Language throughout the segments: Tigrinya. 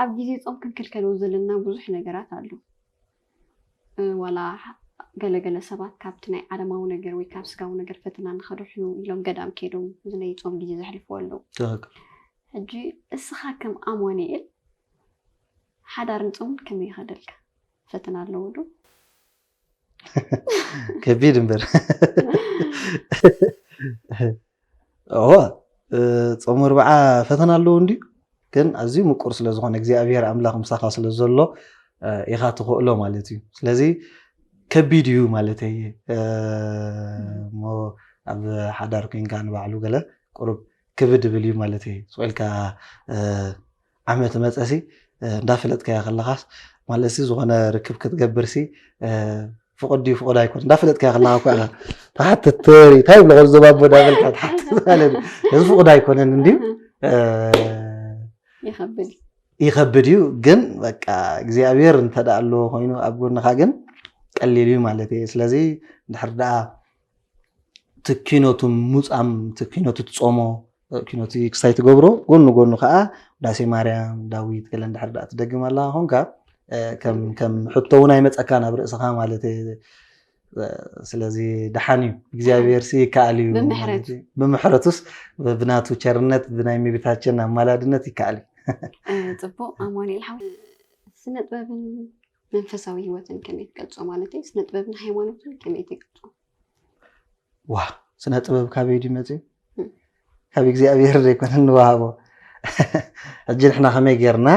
ኣብ ግዜ ጾም ክንክልከሎ ዘለና ብዙሕ ነገራት ኣሎ። ዋላ ገለ ገለ ሰባት ካብቲ ናይ ዓለማዊ ነገር ወይ ካብ ስጋዊ ነገር ፈተና ንኸድሕኑ ኢሎም ገዳም ከይዶም እዚ ናይ ጾም ግዜ ዘሕልፉ ኣለዉ። ትኽክል። ሕጂ እስኻ ከም ኣማኑኤል ሓዳር ንጾምን ከመይ ይኸደልካ ፈተና ኣለዎ ዶ? ከቢድ እምበር እወ ጾም ኣርብዓ ፈተና ኣለዎ እንድዩ ግን ኣዝዩ ምቁር ስለ ዝኾነ እግዚኣብሄር ኣምላኽ ምሳኻ ስለ ዘሎ ኢኻ ትኽእሎ ማለት እዩ ስለዚ ከቢድ እዩ ማለት እየ እሞ ኣብ ሓዳር ኮንካ ንባዕሉ ገለ ቁሩብ ክብድ ብል እዩ ማለት እየ ስቑኢልካ ዓመት መጸሲ እንዳፈለጥካዮ ከለኻስ ማለትሲ ዝኾነ ርክብ ክትገብርሲ ፍቑድ ድዩ ፍቑድ ኣይኮነ እንዳፈለጥካዮ ከለኻ እኮ ኢኻ ትሓትት ትሪ እንታይ ይብሎ ከምዞም ኣቦ እንዳበልካ ትሓትት ማለት እዩ እዚ ፍቑድ ኣይኮነን እንድዩ ይኸብድ ይኸብድ እዩ ግን በቃ እግዚኣብሔር እንተደኣ ኣለዎ ኮይኑ ኣብ ጎንኻ ግን ቀሊል እዩ ማለት እዩ ስለዚ ድሕር ደኣ እቲ ኪኖቱ ሙፃም እቲ ኪኖቱ ትፆሞ ኪኖቲ ክሳይ ትገብሮ ጎኑ ጎኑ ከዓ ዳሴ ማርያም ዳዊት ገለ እንድሕር ዳኣ ትደግም ኣላ ኮንካ ከም ሕቶ እውን ኣይመፀካን ኣብ ርእስኻ ማለት ስለዚ ደሓን እዩ እግዚኣብሔር ሲ ይከኣል እዩ ብምሕረቱስ ብናቱ ቸርነት ብናይ እመቤታችን ኣማላድነት ይከኣል እዩ ፅቡቅ ኣማኑኤል ሓው ስነ ጥበብን መንፈሳዊ ህይወትን ከመይ ትገልጾ ማለተይ ስነ ጥበብን ሃይማኖትን ከመይ ትገልጾ? ዋ ስነ ጥበብ ካበይ ድዩ መፅዩ? ካብ እግዚኣብሔር ዘይኮነ ንወሃቦ ሕጂ ንሕና ከመይ ጌርና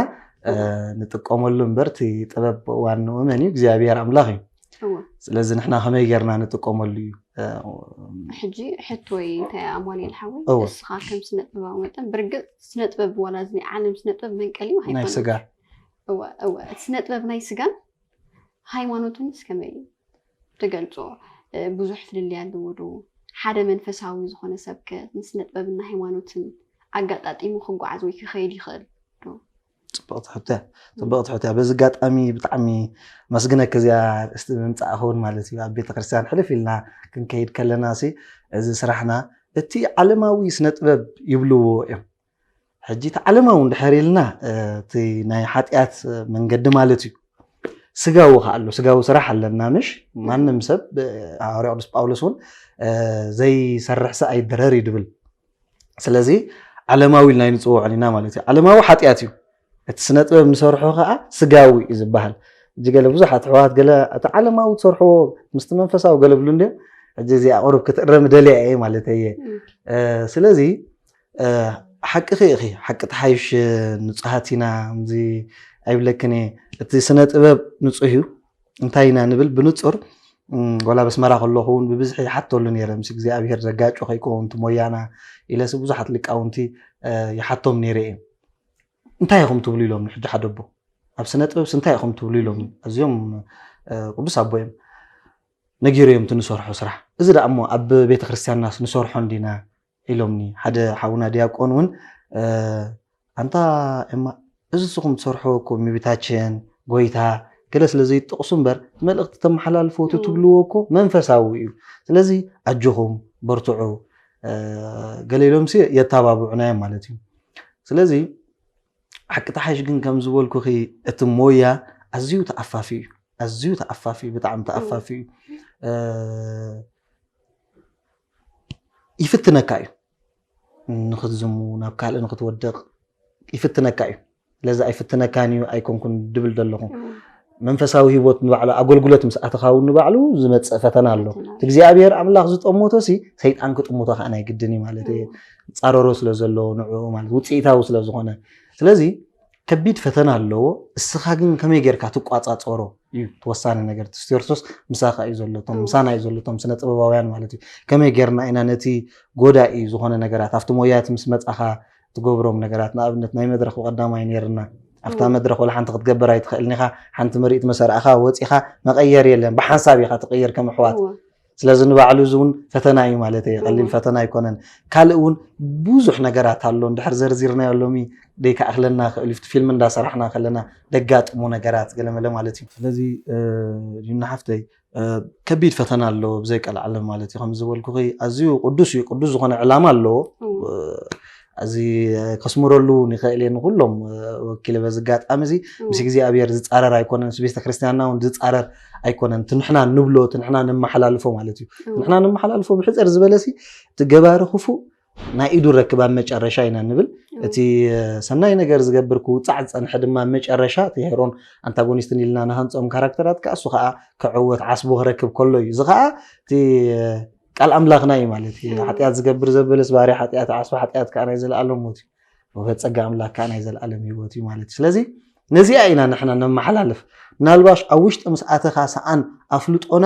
ንጥቀመሉ እምበር እቲ ጥበብ ዋንኡ መን እዩ? እግዚኣብሔር ኣምላኽ እዩ። እወ ስለዚ ንሕና ከመይ ጌርና ንጥቀመሉ እዩ ሕጂ ሕቶይ እንታይ እያ ኣማኑኤል ሓወይ እወ። እስኻ ከም ስነ ጥበባዊ መጠን ብርግፅ ስነ ጥበብ ዋላ እዚ ናይ ዓለም ስነ ጥበብ መንቀሊኡ ናይ ሃይማኖት ስጋ እወ እወ ስነ ጥበብ ናይ ስጋን ሃይማኖትንስ ከመይ እዩ ትገልፆ ብዙሕ ፍልልይ ኣለዎ ዶ ሓደ መንፈሳዊ ዝኾነ ሰብ ከ ንስነ ጥበብና ሃይማኖትን ኣጋጣጢሙ ክጓዓዝ ወይ ክኸይድ ይኽእል ዶ ፅብቕቲ ሕቶ እያ ፅብቕቲ ሕቶ እያ በዚ ኣጋጣሚ ብጣዕሚ መስግነኪ እዚኣ እስቲ ምምፃእ ክውን ማለት እዩ ኣብ ቤተክርስትያን ሕልፍ ኢልና ክንከይድ ከለና ሲ እዚ ስራሕና እቲ ዓለማዊ ስነ ጥበብ ይብልዎ እዮም ሕጂ እቲ ዓለማዊ እንድሕር ኢልና እቲ ናይ ሓጢኣት መንገዲ ማለት እዩ ስጋዊ ከዓ ኣሎ ስጋዊ ስራሕ ኣለና ምሽ ማንም ሰብ ሃዋርያ ቅዱስ ጳውሎስ እውን ዘይሰርሕ ሰ ኣይድረር እዩ ድብል ስለዚ ዓለማዊ ኢልና ንፅውዖን ኢና ማለት እዩ ዓለማዊ ሓጢኣት እዩ እቲ ስነጥበብ ንሰርሖ ከኣ ስጋዊ እዩ ዝበሃል ሕጂ ገለ ብዙሓት ኣሕዋት ገለ እቲ ዓለማዊ ትሰርሕዎ ምስቲ መንፈሳዊ ገለ ብሉ እንድዮም ሕጂ እዚኣ ቁሩብ ክትእረም ደልያ እየ ማለት እየ ስለዚ ሓቅኺ ኢኺ ሓቂ ተሓይሽ ንፁሃት ኢና እዚ ኣይብለክን እየ እቲ ስነ ጥበብ ንፁህ እዩ እንታይ ኢና ንብል ብንፁር ወላ በስመራ ከለኹ እውን ብብዝሒ ይሓተሉ ነይረ ምስ እግዚኣብሄር ዘጋጮ ከይከውን እቲ ሞያና ኢለሲ ብዙሓት ሊቃውንቲ ይሓቶም ነይረ እየ እንታይ ኢኹም ትብሉ ኢሎምኒ ሕጂ ሓደ ኣቦ ኣብ ስነ ጥበብሲ እንታይ ኢኹም ትብሉ ኢሎምኒ ኣዝዮም ቅዱስ ኣቦ እዮም ነጊሩ እዮም እቲ ንሰርሖ ስራሕ እዚ ደኣ እሞ ኣብ ቤተ ክርስቲያንናስ ንሰርሖ እንዲና ኢሎምኒ ሓደ ሓውና ዲያቆን እውን ኣንታ ኤማ እዚ ንስኹም ትሰርሖ እኮ እመቤታችን ጎይታ ገለ ስለ ዘይጠቕሱ እምበር መልእኽቲ ተመሓላልፎ እቲ ትብልዎ እኮ መንፈሳዊ እዩ ስለዚ ኣጆኹም በርትዑ ገለ ኢሎምሲ የተባብዑና እዮም ማለት እዩ ስለዚ ሓቂ ተሓይሽ ግን ከም ዝበልኩኺ እቲ ሞያ ኣዝዩ ተኣፋፊ እዩ ኣዝዩ ተኣፋፊ እዩ ብጣዕሚ ተኣፋፊ እዩ ይፍትነካ እዩ ንክትዝሙ ናብ ካልእ ንክትወድቕ ይፍትነካ እዩ ለዛ ኣይፍትነካን እዩ ኣይኮንኩን ድብል ዘለኹ መንፈሳዊ ህይወት ንባዕሉ ኣገልግሎት ምስ ኣተኻ እውን ንባዕሉ ዝመፅእ ፈተና ኣሎ ፈተና። እቲ እግዚኣብሔር ኣምላኽ ዝጠመቶ ሲ ሰይጣን ክጥምቶ ከዓ ናይ ግድን እዩ ማለት እዩ ፃረሮ ስለ ዘለዎ ንዕኡ ማለት ውፅኢታዊ ስለ ዝኾነ ስለዚ ከቢድ ፈተና ኣለዎ እስኻ ግን ከመይ ጌርካ ትቋፃፀሮ እዩ እቲ ወሳኒ ነገር እቲ ክርስቶስ ምሳኻ እዩ ዘሎቶም ምሳና እዩ ዘሎቶም ስነ ጥበባውያን ማለት እዩ ከመይ ጌርና ኢና ነቲ ጎዳኢ ዝኾነ ነገራት ኣብቲ ሞያት ምስ መፃኻ ትገብሮም ነገራት ንኣብነት ናይ መድረኽ ብቀዳማይ ነይርና ኣብታ መድረኽ ወላ ሓንቲ ክትገብር ኣይትኽእልን ኢኻ ሓንቲ ምርኢት መሰርዕኻ ወፂኻ መቀየር የለን ብሓንሳብ ኢኻ ትቅይር ከም ኣሕዋት ስለዚ ንባዕሉ እዚ እውን ፈተና እዩ ማለት እየ ቀሊል ፈተና ኣይኮነን ካልእ እውን ብዙሕ ነገራት ኣሎ እንድሕር ዘርዚርናዮ ሎሚ ደይከኣክለና ክእል እዩ ፊልም እንዳሰራሕና ከለና ደጋጥሙ ነገራት ገለመለ ማለት እዩ ስለዚ ዩና ሓፍተይ ከቢድ ፈተና ኣለዎ ብዘይ ቀልዓለም ማለት እዩ ከም ዝበልኩኺ ኣዝዩ ቅዱስ እዩ ቅዱስ ዝኾነ ዕላማ ኣለዎ እዚ ከስምረሉ ንኽእል እየ ንኩሎም ወኪለ በዚ ኣጋጣሚ እዚ ምስ እግዚኣብሔር ዝፃረር ኣይኮነን ምስ ቤተ ክርስቲያንና እውን ዝፃረር ኣይኮነን እቲ ንሕና ንብሎ እቲ ንሕና ነመሓላልፎ ማለት እዩ ንሕና ነመሓላልፎ ብሕፅር ዝበለ እቲ ገባሪ ክፉእ ናይ ኢዱ ረክብ ኣብ መጨረሻ ኢና ንብል እቲ ሰናይ ነገር ዝገብር ክውፃዕ ዝፀንሐ ድማ መጨረሻ እቲ ሄሮን ኣንታጎኒስትን ኢልና ንሃንፆም ካራክተራት ከዓ እሱ ከዓ ክዕወት ዓስቡ ክረክብ ከሎ እዩ እዚ ከዓ እቲ ቃል ኣምላኽና እዩ ማለት እዩ ሓጢኣት ዝገብር ዘበለስ ባህሪ ሓጢኣት ዓስቢ ሓጢኣት ከዓ ናይ ዘለኣለም ሞት እዩ ወፈ ፀጋ ኣምላክ ከዓ ናይ ዘለኣለም ህይወት እዩ ማለት እዩ ስለዚ ነዚኣ ኢና ንሕና ነመሓላልፍ ምናልባሽ ኣብ ውሽጢ ምስ ኣተኻ ሰኣን ኣፍልጦና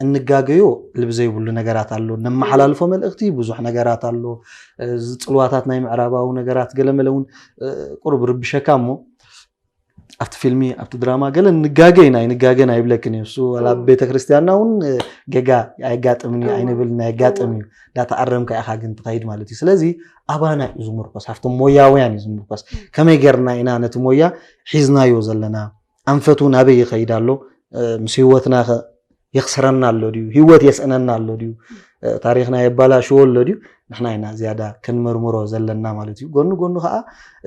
እንጋገዮ ልቢ ዘይብሉ ነገራት ኣሎ ነመሓላልፎ መልእኽቲ ብዙሕ ነገራት ኣሎ ዝፅልዋታት ናይ ምዕራባዊ ነገራት ገለመለ እውን ቁርብ ርብሸካ እሞ ኣብቲ ፊልሚ ኣብቲ ድራማ ገለ ንጋገ ኢና ኣይንጋገን ኣይብለክን እዩ እሱ ዋላ ኣብ ቤተክርስትያንና እውን እ፣ ገጋ ኣየጋጥምን እዩ ኣይንብል ናይ ኣጋጥም እዩ እንዳተኣረምካ ኢኻ ግን ትኸይድ ማለት እዩ ስለዚ ኣባና እዩ ዝምርኮስ ኣብቶም ሞያውያን እዩ ዝምርኮስ ከመይ ጌርና ኢና ነቲ ሞያ ሒዝናዮ ዘለና ኣንፈቱ ናበይ ይኸይድ ኣሎ እ፣ ምስ ህይወትና ከ የኽስረና ኣሎ ድዩ ህይወት የስእነና ኣሎ ድዩ ታሪኽና የባላሽዎ ኣሎ ድዩ ንሕና ኢና ዝያዳ ክንምርምሮ ዘለና ማለት እዩ ጎኑ ጎኑ ከዓ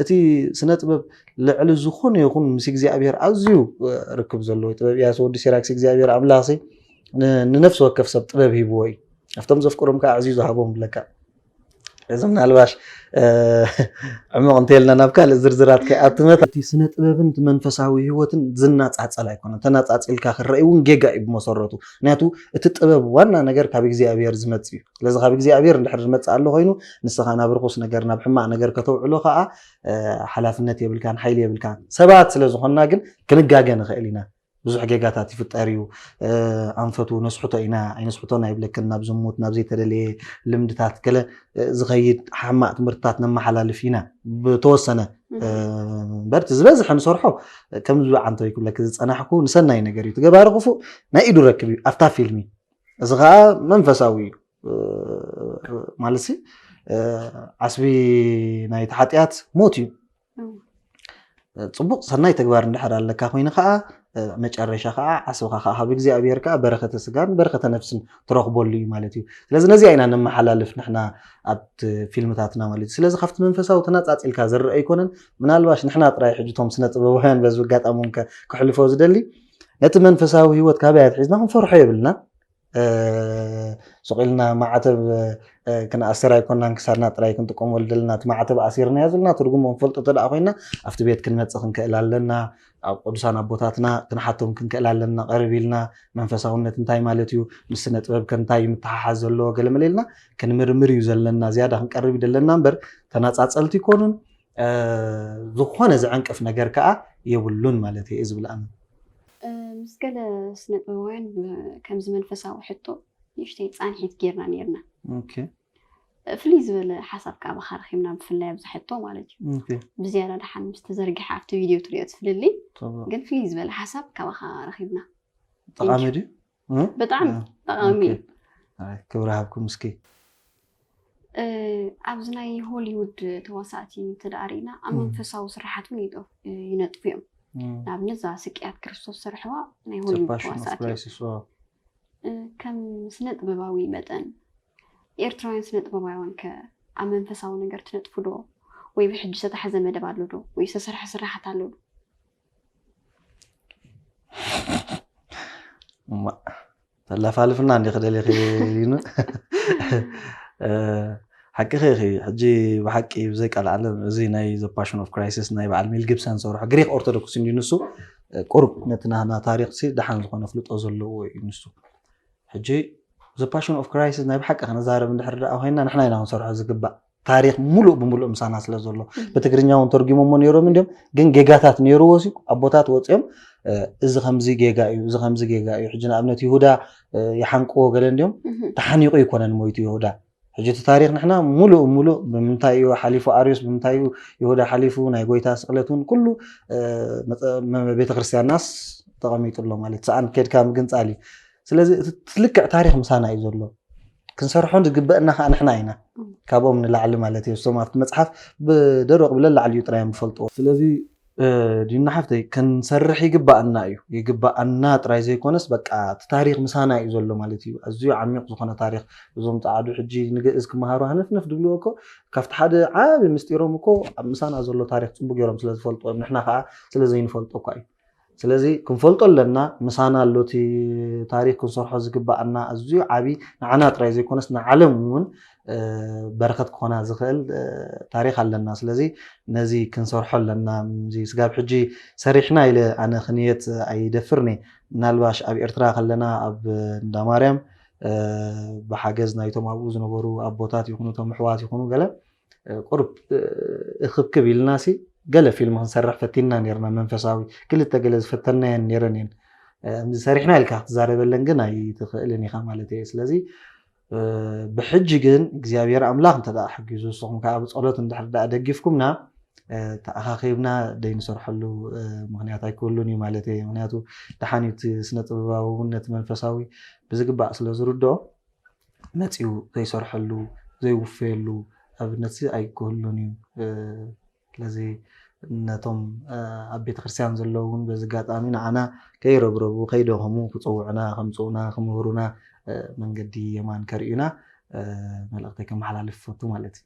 እቲ ስነ ጥበብ ልዕሊ ዝኾነ ይኹን ምስ እግዚኣብሔር ኣዝዩ ርክብ ዘለዎ ጥበብ እያ ወዲ ሲራክስ እግዚኣብሔር ኣምላኽ ንነፍሲ ወከፍ ሰብ ጥበብ ሂብዎ እዩ ኣብቶም ዘፍቅሮም ከዓ ኣዕዝዩ ዝሃቦም ብለካ እዚ ምናልባሽ ዕሙቕ እንተይልና ናብ ካልእ ዝርዝራት ከይኣትመት እቲ ስነ ጥበብን እቲ መንፈሳዊ ህይወትን ዝናጻጸል ኣይኮነን። ተናጻጺልካ ክረኣይ እውን ጌጋ እዩ ብመሰረቱ። ምክንያቱ እቲ ጥበብ ዋና ነገር ካብ እግዚኣብሔር ዝመጽእ እዩ። ስለዚ ካብ እግዚኣብሔር እንድሕር ዝመጽእ ኣሎ ኮይኑ ንስኻ ናብ ርኹስ ነገር ናብ ሕማቕ ነገር ከተውዕሎ ከዓ ሓላፍነት የብልካን ሓይሊ የብልካን። ሰባት ስለ ዝኾንና ግን ክንጋገ ንኽእል ኢና። ብዙሕ ጌጋታት ይፍጠር እዩ። ኣንፈቱ ነስሕቶ ኢና ኣይነስሕቶን ኣይብለክን። ናብ ዝሙት፣ ናብ ዘይተደለየ ልምድታት ገለ ዝኸይድ ሓማቕ ትምህርትታት ነመሓላልፍ ኢና ብተወሰነ እምበር እቲ ዝበዝሐ ንሰርሖ ከምዚ ዓንተው ክብለኪ ዝፀናሕኩ ንሰናይ ነገር እዩ። ትገባሪ ክፉእ ናይ ኢዱ ረክብ እዩ ኣብታ ፊልሚ። እዚ ከዓ መንፈሳዊ እዩ ማለት ዓስቢ ናይቲ ሓጢኣት ሞት እዩ። ፅቡቕ ሰናይ ተግባር እንድሕር ኣለካ ኮይኑ ከዓ መጨረሻ ከዓ ዓስብኻ ከዓ ካብ እግዚኣብሔር ከዓ በረከተ ስጋን በረከተ ነፍስን ትረኽበሉ እዩ ማለት እዩ ስለዚ ነዚኣ ኢና ነመሓላልፍ ንሕና ኣብቲ ፊልምታትና ማለት እዩ ስለዚ ካብቲ መንፈሳዊ ተናፃፂልካ ዝረአ ኣይኮነን ምናልባሽ ንሕና ጥራይ ሕጂ እቶም ስነ ጥበባውያን በዚ ኣጋጣሚ እውን ከ- ክሕልፎ ዝደሊ ነቲ መንፈሳዊ ህይወት ካበይ ኣትሒዝና ክንፈርሖ የብልና ሱቕ ኢልና ማዕተብ ክንኣስር ኣይኮናን ክሳድና ጥራይ ክንጥቀመሉ ዘለና እቲ ማዕተብ ኣሲርናዮ ዘለና ትርጉሙ ክንፈልጦ እንተ ኮይና ኣብቲ ቤት ክንመፅእ ክንክእል ኣለና ኣብ ቅዱሳን ኣቦታትና ክንሓቶም ክንክእል ኣለና ቀርብ ኢልና መንፈሳውነት እንታይ ማለት እዩ ምስ ስነ ጥበብ ከንታይ ምትሓሓዝ ዘለዎ ገለመለ ኢልና ክንምርምር እዩ ዘለና ዝያዳ ክንቀርብ እዩ ዘለና እምበር ተናፃፀልቲ ይኮኑን ዝኾነ ዝዕንቅፍ ነገር ከኣ የብሉን ማለት እየ ዝብል ኣነ። ምስ ገለ ስነ ጥበባውያን ከምዚ መንፈሳዊ ሕቶ ንእሽተይ ፃንሒት ጌርና ነይርና። ኦኬ ፍልይ ዝበለ ሓሳብ ከዓ ብካ ረኪብና ብፍላይ ኣብዚ ሕቶ ማለት እዩ ኦኬ ብዝያዳ ድሓን ምስ ተዘርግሐ ኣብቲ ቪድዮ ትሪኦ እቲ ፍልልይ طبعا ግን ፍልይ ዝበለ ሓሳብ ካባካ ረኪብና ጠቓሚ ድዩ እ? ብጣዕሚ እ፣ ጠቓሚ እዩ። ኦኬ። ኣይ፣ ክብሪ ሃብኩም እስኪ እ፣ ኣብዚ ናይ ሆሊውድ ተዋሳእቲ እንተደኣ ርኢና ኣብ እ። መንፈሳዊ ስራሓት እውን ይጠፍ- እ፣ ይነጥፉ እዮም እ፣ ንኣብነት እዛ ስቅያት ክርስቶስ ዝሰርሕዋ ናይ The ሆሊውድ Passion of ተዋሳእቲ እዮም Crisis፣ ዋው። እ፣ ከም ስነ ጥበባዊ መጠን ኤርትራውያን ስነ ጥበባውያን ከ ኣብ መንፈሳዊ ነገር ትነጥፉ ዶ ወይ ብሕጂ ዝተታሕዘ መደብ ኣሎ ዶ ወይ ዝተሰርሐ ስራሓት ኣሎ ዶ ተላፋልፍና እንዲ ክደሊኺ ይኑ ሓቂኺ ኢኺ ሕጂ ብሓቂ ብዘይ ቃል ዓለም እዚ ናይ ዘ ፓሽን ኦፍ ክራይሲስ ናይ በዓል ሜል ጊብሰን ዝሰርሖ ግሪክ ኦርቶዶክስ እንዲ ንሱ ቁሩብ ነቲ ናህና ታሪክ ሲ ደሓን ዝኾነ ፍልጦ ዘለዎ እዩ ንሱ ሕጂ ዘ ፓሽን ኦፍ ክራይሲስ ናይ ብሓቂ ክንዛረብ እንድሕር ደኣ ኮይና ንሕና ኢና ክንሰርሖ ዝግባእ ታሪክ ሙሉእ ብሙሉእ ምሳና ስለ ዘሎ ብትግርኛ እውን ተርጉሞሞ ነይሮም እንዲም ግን ጌጋታት ነይርዎ ሲ ኣቦታት ወፂኦም እዚ ከምዚ ጌጋ እዩ እዚ ከምዚ ጌጋ እዩ ሕጂ ንኣብነት ይሁዳ ይሓንቅዎ ገለ እንዲም ተሓኒቑ ይኮነን ሞይቱ ይሁዳ ሕጂ እቲ ታሪክ ንሕና ሙሉእ ሙሉእ ብምንታይ እዩ ሓሊፉ ኣርዮስ ብምንታይ እዩ ይሁዳ ሓሊፉ ናይ ጎይታ ስቕለት እውን ኩሉ ቤተክርስትያንናስ ተቐሚጡ ኣሎ ማለት ሰኣን ኬድካ ምግንፃል እዩ ስለዚ እቲ ልክዕ ታሪክ ምሳና እዩ ዘሎ ክንሰርሖ ዝግበእና ከዓ ንሕና ኢና ካብኦም ንላዕሊ ማለት እዩ እሶም ኣብቲ መፅሓፍ ብደረቁ ብለላዕሊ እዩ ጥራይ እዮም ዝፈልጥዎ ስለዚ ዲና ሓፍተይ ክንሰርሕ ይግበኣና እዩ ይግበኣና ጥራይ ዘይኮነስ በቃ እቲ ታሪክ ምሳና እዩ ዘሎ ማለት እዩ ኣዝዩ ዓሚቅ ዝኮነ ታሪክ እዞም ፀዓዱ ሕጂ ንግእዝ ክመሃሩ ሃነፍነፍ ዝብልዎ እኮ ካብቲ ሓደ ዓብይ ምስጢሮም እኮ ምሳና ዘሎ ታሪክ ፅቡቅ ገይሮም ስለዝፈልጥዎ እዮም ንሕና ከዓ ስለዘይንፈልጦ እኳ እዩ ስለዚ ክንፈልጦ ኣለና ምሳና ኣሎ እቲ ታሪኽ ክንሰርሖ ዝግበኣና ኣዝዩ ዓቢ ንዓና ጥራይ ዘይኮነስ ንዓለም እውን በረኸት ክኾና ዝኽእል ታሪኽ ኣለና ስለዚ ነዚ ክንሰርሖ ኣለና እዚ ስጋብ ሕጂ ሰሪሕና ኢለ ኣነ ክንየት ኣይደፍርን እየ ምናልባሽ ኣብ ኤርትራ ከለና ኣብ እንዳማርያም ብሓገዝ ናይቶም ኣብኡ ዝነበሩ ኣቦታት ይኹኑ እቶም ኣሕዋት ይኹኑ ገለ ቁሩብ እኽብክብ ኢልናሲ ገለ ፊልም ክንሰርሕ ፈቲንና ኔርና መንፈሳዊ ክልተ ገለ ዝፈተናየን ኔረን እየን ከምዚ ሰሪሕና ኢልካ ክትዛረበለን ግን ኣይትኽእልን ኢኻ ማለት እየ ስለዚ ብሕጂ ግን እግዚኣብሔር ኣምላኽ እንተ ሓጊዙ ንስኹም ከዓ ብፀሎት እንድሕር ዳኣ ደጊፍኩምና ተኣኻኺብና ዘይንሰርሐሉ ምክንያት ኣይክህሉን እዩ ማለት እየ ምክንያቱ ደሓን እዩ እቲ ስነ ጥበባዊ እውን ነቲ መንፈሳዊ ብዝግባእ ስለ ዝርድኦ መጺኡ ዘይሰርሐሉ ዘይውፈየሉ ኣብነትሲ ኣይክህሉን እዩ። ስለዚ ነቶም ኣብ ቤተክርስትያን ዘለዉ እውን በዚ ኣጋጣሚ ንዓና ከይረብረቡ ከይደኸሙ ክጽውዑና ከምጽኡና ክምህሩና መንገዲ የማን ከርእዩና መልእኽተይ ከመሓላልፍ እፈቱ ማለት እዩ።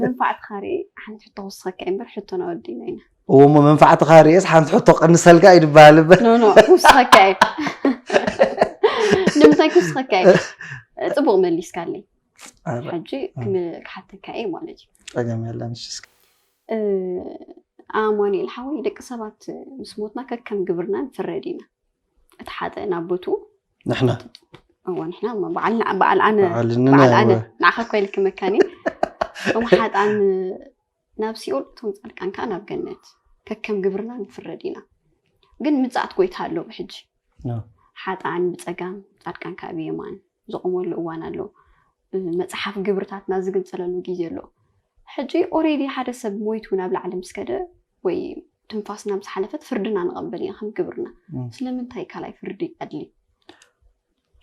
መንፋዕትኻ ርኤ ሓንቲ ሕቶ ክውስኸካ እየ እምበር ሕቶ ናወዲና ኢና እዎ እሞ መንፋዕትኻ ርኤስ ሓንቲ ሕቶ ቀንሰልካ እዩ ድበሃል እምበር ኖኖ ክውስኸካ እዩ ንምንታይ ክውስኸካ እዩ ፅቡቕ መሊስካለይ ሕጂ ክሓተካ እየ ማለት እዩ ፀገም የለን ኣማኒኤል ሓወይ ደቂ ሰባት ምስ ሞትና ከከም ግብርና ንፍረድ ኢና እቲ ሓጥእ ናብ ቦትኡ ንሕና እወ ንሕና እሞ በዓልና በዓል ኣነ በዓል ንና በዓል ኣነ እወ። ንዓኻ እኮ ኢልኪ መካኒ እቶም ሓጣን ናብ ሲኦል እቶም ፃድቃን ከዓ ናብ ገነት ከከም ግብርና ንፍረድ ኢና ግን ምፅኣት ጎይታ ኣሎ ብሕጂ ኖ። ሓጣን ብፀጋም ፃድቃን ከዓ ብየማን ዝቆመሉ እዋን ኣሎ እ፣ መፅሓፍ ግብርታትና ዝግንፀለሉ ግዜ ኣሎ ሕጂ ኦሬዲ ሓደ ሰብ ሞይቱ ናብ ላዕሊ ምስ ከደ ወይ ትንፋስና ምስ ሓለፈት ፍርድና ንቐበል ኢና ከም ግብርና። ስለምንታይ ካልኣይ ፍርዲ ኣድልዩ?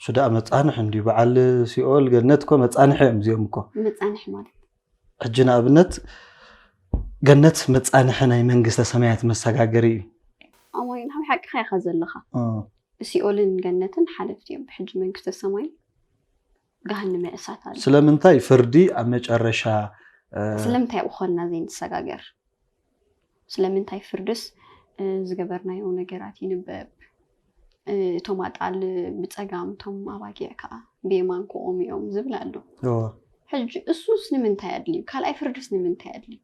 እሱ ደኣ መጻንሒ እንድዩ። በዓል ሲኦል ገነት እኮ መጻንሒ እዮም እዚኦም እኮ። መጻንሒ ማለት ሕጂ ንኣብነት ገነት መጻንሒ ናይ መንግስተ ሰማያት መሰጋገሪ እዩ። ኣማኒ ንሓው ሓቅኻ ኢኻ ዘለኻ። ሲኦልን ገነትን ሓለፍቲ እዮም። ብሕጂ መንግስተ ሰማይ ገሃነመ እሳት ኣሎ። ስለምንታይ ፍርዲ ኣብ መጨረሻ ስለምንታይ ኣብኡ ኾንና ዘይንሰጋገር? ስለምንታይ ፍርድስ ዝገበርናዮ ነገራት ይንበብ? እቶም ኣጣል ብጸጋም እቶም ኣባጊዕ ከዓ ብየማን ክቖሙ እዮም ዝብል ኣሎ። ሕጂ እሱስ ንምንታይ ኣድልዩ? ካልኣይ ፍርድስ ንምንታይ ኣድልዩ?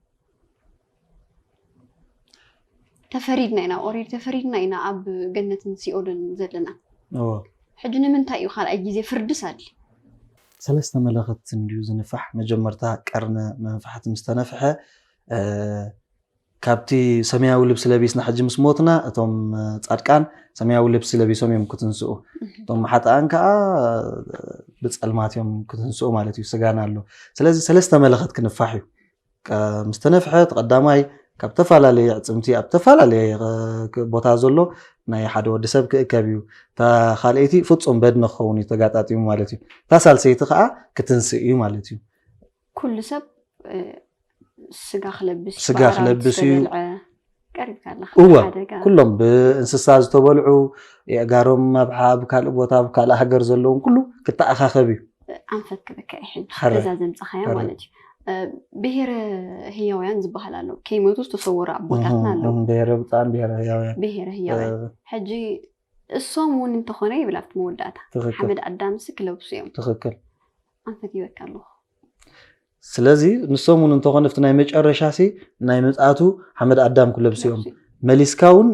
ተፈሪድና ኢና ኦሬዲ ተፈሪድና ኢና ኣብ ገነትን ሲኦልን ዘለና ሕጂ ንምንታይ እዩ ካልኣይ ግዜ ፍርድስ ኣድ ሰለስተ መለኸት እንድዩ ዝንፋሕ መጀመርታ ቀርነ መንፋሕቲ ምስ ተነፍሐ ካብቲ ሰማያዊ ልብሲ ለቢስና ሕጂ ምስ ሞትና እቶም ፃድቃን ሰማያዊ ልብሲ ለቢሶም እዮም ክትንስኡ እቶም ሓጥኣን ከዓ ብፀልማት እዮም ክትንስኡ ማለት እዩ ስጋና ኣሎ ስለዚ ሰለስተ መለኸት ክንፋሕ እዩ ምስ ተነፍሐ እቲ ቀዳማይ ካብ ተፈላለየ ኣዕፅምቲ ኣብ ተፈላለየ ቦታ ዘሎ ናይ ሓደ ወዲ ሰብ ክእከብ እዩ እታ ካልኣይቲ ፍፁም በድኒ ክኸውን እዩ ተጋጣጢሙ ማለት እዩ እታ ሳልሰይቲ ከዓ ክትንስእ እዩ ማለት እዩ ኩሉ ሰብ ስጋ ክለብስ ስጋ ክለብስ እዩ እወ ኩሎም ብእንስሳ ዝተበልዑ የእጋሮም ኣብሓብ ካልእ ቦታ ኣብ ካልእ ሃገር ዘለውን ኩሉ ክተኣኻኸብ እዩ ኣንፈት ክብከዐ ሕጂ እዛ ዘምፃኻያ ማለት እዩ ብሄረ ህያውያን ዝበሃል ኣሎ ከይመቱ ዝተሰወሩ ኣቦታትና ኣለዉ ብሄረ ብፃን ብሄረ ህያውያን ብሄረ ህያውያን ሕጂ እሶም እውን እንተኾነ ይብል ኣብቲ መወዳእታ ሓመድ ኣዳምሲ ክለብሱ እዮም ትኽክል ኣንፈት ይበካ ኣለኹ ስለዚ ንሶም ውን እንተኾነ ኣብቲ ናይ መጨረሻሲ ናይ ምጽኣቱ ሓመድ ኣዳም ክለብሱ እዮም። መሊስካ ውን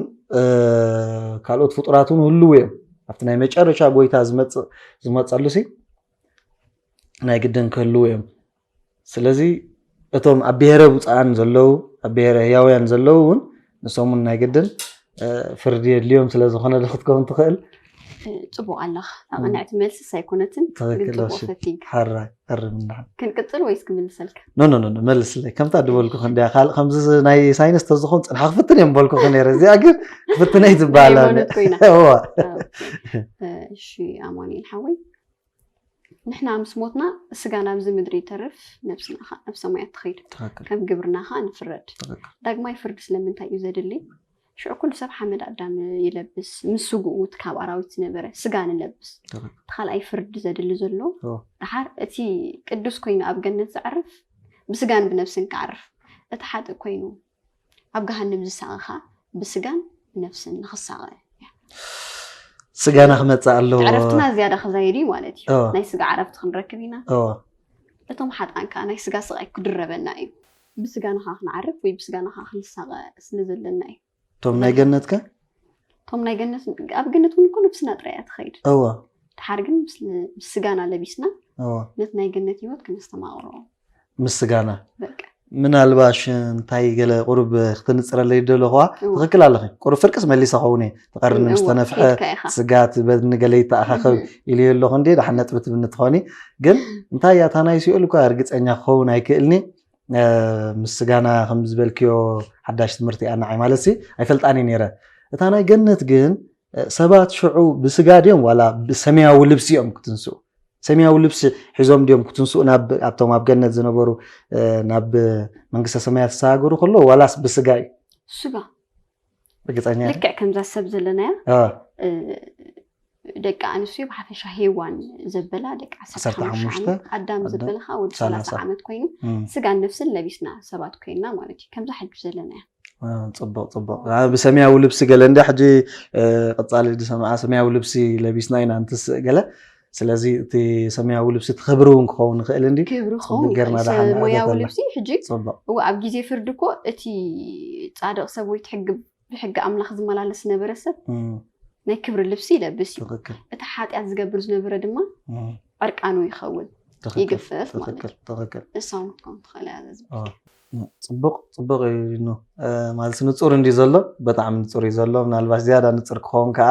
ካልኦት ፍጡራት ውን ህልው እዮም። ኣብቲ ናይ መጨረሻ ጎይታ ዝመጽእ ዝመጸሉሲ ናይ ግድን ክህልው እዮም። ስለዚ እቶም ኣብ ብሄረ ብጹኣን ዘለው ኣብ ብሄረ ህያውያን ዘለው ውን ንሶም ውን ናይ ግድን ፍርዲ የድልዮም ስለ ዝኾነ ዶ ክትከውን ትኽእል? ጽቡቕ ኣለኻ። ኣቐናዕቲ መልስስ ኣይኮነትን፣ ግን ትክክል ጽቡቕ እሺ ሰቲንግ። ሓራ ኣርምና ክንቅጽል ወይስ ክምልሰልካ? ኖ ኖ ኖ መልስለይ ከምታ ድበልኩኺ እንድያ ካልእ ከምዚ ናይ ሳይንስ ተዝኾን ጽንሓ ክፍትን እየ ምበልኩኺ ነይረ እዚኣ ግን ክፍትነይ ናይ ዝበሃል ሃይማኖት ኮይና። እዋ ኦኬ። እሺ ኣማኑኤል ሓወይ ንሕና ምስ ሞትና ስጋ ናብዚ ምድሪ ይተርፍ ነብስና ከ ናብ ሰማያት ትኸይድ ከም ግብርና ከ ንፍረድ ዳግማይ ፍርዲ ስለምንታይ እዩ ዘድሊ ሽዑ ኩሉ ሰብ ሓመድ ኣዳም ይለብስ ምስ ስግኡ እቲ ካብ ኣራዊት ዝነበረ ስጋ ንለብስ ተካልኣይ ፍርዲ ዘድሊ ዘሎ ድሓር እቲ ቅዱስ ኮይኑ ኣብ ገነት ዘዕርፍ ብስጋን ብነብስን ክዓርፍ እቲ ሓጥእ ኮይኑ ኣብ ገሃንም ዝሳቐኻ ብስጋን ብነፍስን ንኽሳቐ እያ። ስጋና ክመፅእ ኣለዎ። ዕረፍትና ዝያዳ ክዛየድ እዩ ማለት እዩ። እዎ። ናይ ስጋ ዕረፍቲ ክንረክብ ኢና። እዎ። እቶም ሓጥኣን ከዓ ናይ ስጋ ስቓይ ክድረበና እዩ። ብስጋና ከዓ ክንዓርፍ ወይ ብስጋና ከዓ ክንሳቐ ስለ ዘለና እዩ። እቶም ናይ ገነት ከ? እቶም ናይ ገነት ኣብ ገነት እውን እኮ ነብስና ጥራይ እያ ትኸይድ። እዎ። ደሓር ግን ምስ ምስ ስጋና ለቢስና እዎ። ነቲ ናይ ገነት ህይወት ክነስተማቕሮ ምስጋና ምናልባሽ እንታይ ገለ ቁሩብ ክትንፅረለይ ደለኹዋ ትኽክል ኣለኺ ቁሩብ ፍርቅስ መሊሰ ኸውን እየ ትቐርኒ ምስ ተነፍሐ ስጋት በንገለ ይተኣኻኸብ ኢሉ ኣለኹ እንዲ ድሓን ነጥቢ ትብኒ ትኾኒ ግን እንታይ እያ እታ ናይ ሲኦል እኳ እርግፀኛ ክኸውን ኣይክእልኒ ምስጋና ከም ዝበልክዮ ሓዳሽ ትምህርቲ እያ ንዓይ ማለት ሲ ኣይፈልጣን እየ ነይረ እታ ናይ ገነት ግን ሰባት ሽዑ ብስጋ ድዮም ዋላ ብሰማያዊ ልብሲ እዮም ክትንስኡ? ሰማያዊ ልብሲ ሒዞም ድዮም ክትንስኡ ናብ ኣብቶም ኣብ ገነት ዝነበሩ ናብ መንግስተ ሰማያት ዝተሳገሩ ከሎ ዋላስ ብስጋ እዩ? ስጋ ርግፀኛ ልክዕ ከምዛ ሰብ ዘለናያ ደቂ ኣንስትዮ ብሓፈሻ ሄዋን ዘበላ ደቂ ዓሰርተ ሓሙሽተ ኣዳም ዘበለ ከዓ ወዲ ሰላሳ ዓመት ኮይኑ ስጋን ነፍስን ለቢስና ሰባት ኮይንና ማለት እዩ ከምዛ ሕጂ ዘለና እያ ጽቡቅ ጽቡቅ ብሰማያዊ ልብሲ ገለ እንዳ ሕጂ ቀጻሊ ዝሰምዓ ሰማያዊ ልብሲ ለቢስና ኢና እንትስእ ገለ ስለዚ እቲ ሰማያዊ ልብሲ እቲ ክብሪ እውን ክኸውን ይኽእል እንዲ ክብሪ ክኸውን ሞያዊ ልብሲ ሕጂ እዎ ኣብ ግዜ ፍርዲ እኮ እቲ ፃድቕ ሰብ ወይ ሕጊ ብሕጊ ኣምላኽ ዝመላለስ ዝነበረ ሰብ ናይ ክብሪ ልብሲ ይለብስ እዩ እቲ ሓጢኣት ዝገብር ዝነበረ ድማ ዕርቃኑ ይኸውን ይግፈፍ ማለት እዩ ንሳውን ክትከውን ትኽእል እያ ጽቡቅ ጽቡቅ ኢዩ ን ማለትስ ንጹር እንድዩ ዘሎ በጣዕሚ ንጹር ኢዩ ዘሎ ምናልባሽ ዝያዳ ንጽር ክኸውን ከኣ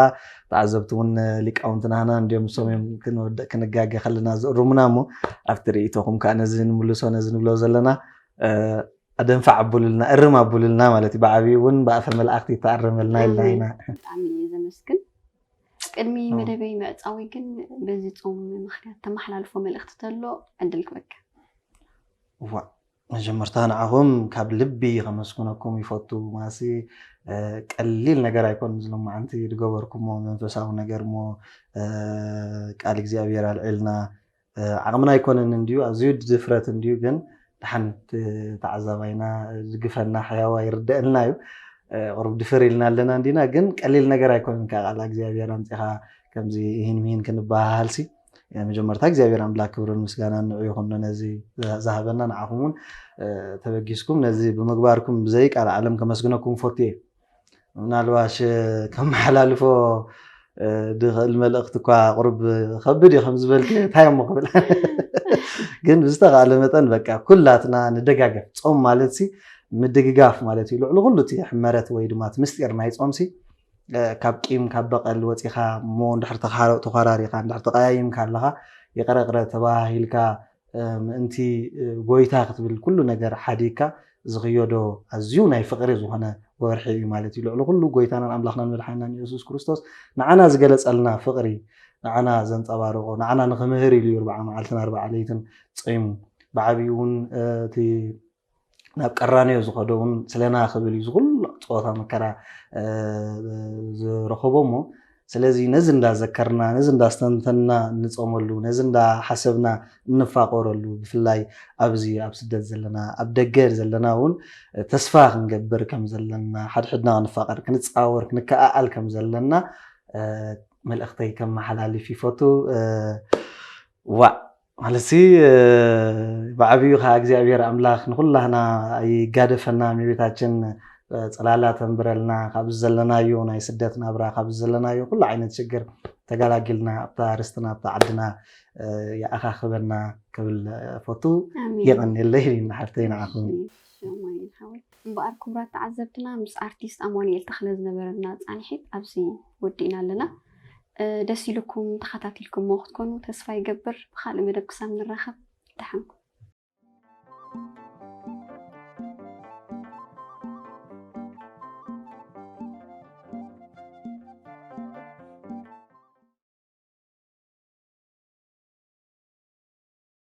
ተዓዘብቲ ውን ሊቃውንትና ሃና እንድዮም ንሶም እዮም ክንወድእ ክንጋገ ከለና ዝእሩሙና እሞ ኣብቲ ሪኢቶኹም ከኣ ነዚ ንምልሶ ነዚ ንብሎ ዘለና ኣደንፋዕ ኣብሉልና እርም ኣብሉልና ማለት ኢዩ ብዓቢኡ ውን ብኣፈ መልኣኽቲ ይተኣረመልና ኢልና ኢና ብጣዕሚ ኢየ ዘመስግን ቅድሚ መደበይ ምዕጻውይ ግን በዚ ጾም ምኽንያት ተማሓላልፎ መልእኽቲ ተሎ ዕድል ክበካ እዋእ መጀመርታ ንዓኹም ካብ ልቢ ከመስግነኩም ይፈቱ ማሲ ቀሊል ነገር ኣይኮን ዝሎማዓንቲ ዝገበርኩሞ መንፈሳዊ ነገር እሞ ቃል እግዚኣብሔር ኣልዒልና ዓቕምና ኣይኮነን እንድዩ ኣዝዩ ድፍረት እንድዩ ግን ድሓን ተዓዛባይና ዝግፈና ሕያዋ ይርደአልና እዩ ቁሩብ ድፍር ኢልና ኣለና እንዲና ግን ቀሊል ነገር ኣይኮነን ካብ ቃል እግዚኣብሔር ኣምፂኻ ከምዚ ይህን ምሂን ክንበሃሃልሲ መጀመርታ እግዚኣብሔር ኣምላክ ክብርን ምስጋናን ንዑ ይኹን ነዚ ዝሃበና ንዓኹም እውን ተበጊስኩም ነዚ ብምግባርኩም ብዘይ ቃል ዓለም ከመስግነኩም ፈቱ እየ ምናልባሽ ከመሓላልፎ ድኽእል መልእኽቲ እኳ ቅሩብ ከብድ እዩ ከምዝበልክ እንታይ እሞ ክብል ግን ብዝተካለ መጠን በቃ ኩላትና ንደጋገፍ ፆም ማለት ሲ ምድግጋፍ ማለት እዩ ልዕሊ ኩሉ እቲ ሕመረት ወይ ድማ እቲ ምስጢር ናይ ፆም ሲ ካብ ቂም ካብ በቐል ወጺኻ እሞ እንድሕር ተዃራሪኻ እንድሕር ተቐያይምካ ኣለኻ ይቕረ ቕረ ተበሃሂልካ ምእንቲ ጎይታ ክትብል ኩሉ ነገር ሓዲግካ ዝኽዮዶ ኣዝዩ ናይ ፍቕሪ ዝኾነ ወርሒ እዩ ማለት እዩ። ልዕሊ ኩሉ ጎይታናን ኣምላኽናን መድሓኒናን የሱስ ክርስቶስ ንዓና ዝገለጸልና ፍቕሪ ንዓና ዘንጸባረቖ ንዓና ንክምህር ኢሉ እዩ ኣርብዓ መዓልትን ኣርብዓ ለይትን ጸይሙ ብዓቢኡ እውን እቲ ናብ ቀራንዮ ዝኸዶ እውን ስለና ክብል እዩ ዝኹሉ ፀወታ መከራ ዝረኸቦ እሞ ስለዚ ነዚ እንዳዘከርና ነዚ እንዳስተንተንና እንፀመሉ ነዚ እንዳሓሰብና እንፋቆረሉ ብፍላይ ኣብዚ ኣብ ስደት ዘለና ኣብ ደገ ዘለና እውን ተስፋ ክንገብር ከም ዘለና ሓድሕድና ክንፋቀር ክንፃወር ክንከኣኣል ከም ዘለና መልእኽተይ ከመሓላልፍ ይፈቱ ዋዕ ማለትሲ ብዓብዩ ከኣ እግዚኣብሔር ኣምላክ ንኩላህና ኣይጋደፈና እመቤታችን ጽላላ ተንብረልና ካብዚ ዘለናዮ ናይ ስደት ናብራ ካብዚ ዘለናዮ ኩሉ ዓይነት ሽግር ተጋላጊልና ኣብታ ርስትና ኣብታ ዓድና ይኣኻኽበና ክብል ፈቱ የቀኔለይ ንሓፍተይ ንዓኹም እምበኣር ክቡራት ተዓዘብትና ምስ ኣርቲስት ኣማኑኤል ተኽለ ዝነበረና ፃንሒት ኣብዚ ወዲእና ኣለና። ደስ ኢሉኩም ተኸታቲልኩሞ ክትኮኑ ተስፋ ይገብር። ብኻልእ መደብ ክሳብ ንራኸብ ደሓን ኩኑ።